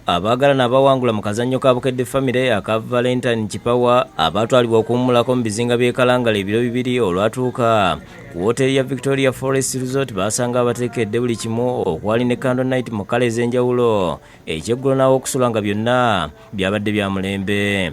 abaagalana abawangula mu kazannyo ka bukedde famire aka valentine kipawa abaatwalibwa okuwummulako mu bizinga by'e kalangala ebiro bibiri olwatuuka ku wooteeri ya victoria forest resort baasanga abateekedde buli kimu okwali ne candle night mu kala ez'enjawulo ekyeggulo n'aw'okusula nga byonna byabadde bya mulembe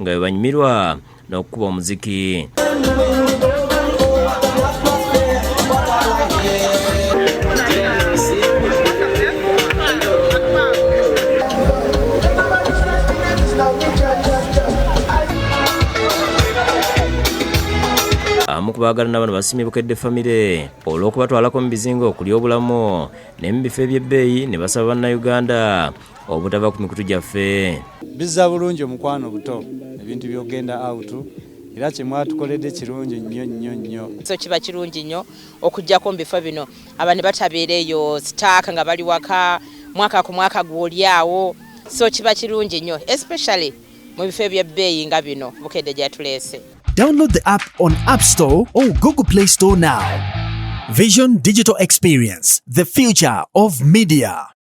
nga bwebanyumirwa n'okukuba omuziki abamu ku baagala n'abano basimye bukedde famire olw'okubatwalako mu bizinga okulya obulamu ne mu bifo eby'ebbeeyi ne basaba bannayuganda obutava ku mikutu gyaffe bizza bulungi omukwano buto ebintu byogenda out era kyemwatukoledde kirungi nnyo nnyo nnyo so kiba kirungi nnyo okujjako mu bifo bino abantu batabeera eyo sitaaka nga bali waka mwaka ku mwaka gwoli awo so kiba kirungi nnyo especially mu bifo ebyebbeeyi nga bino bukedde gyatuleese download the app on app store or google play store now vision digital experience the future of media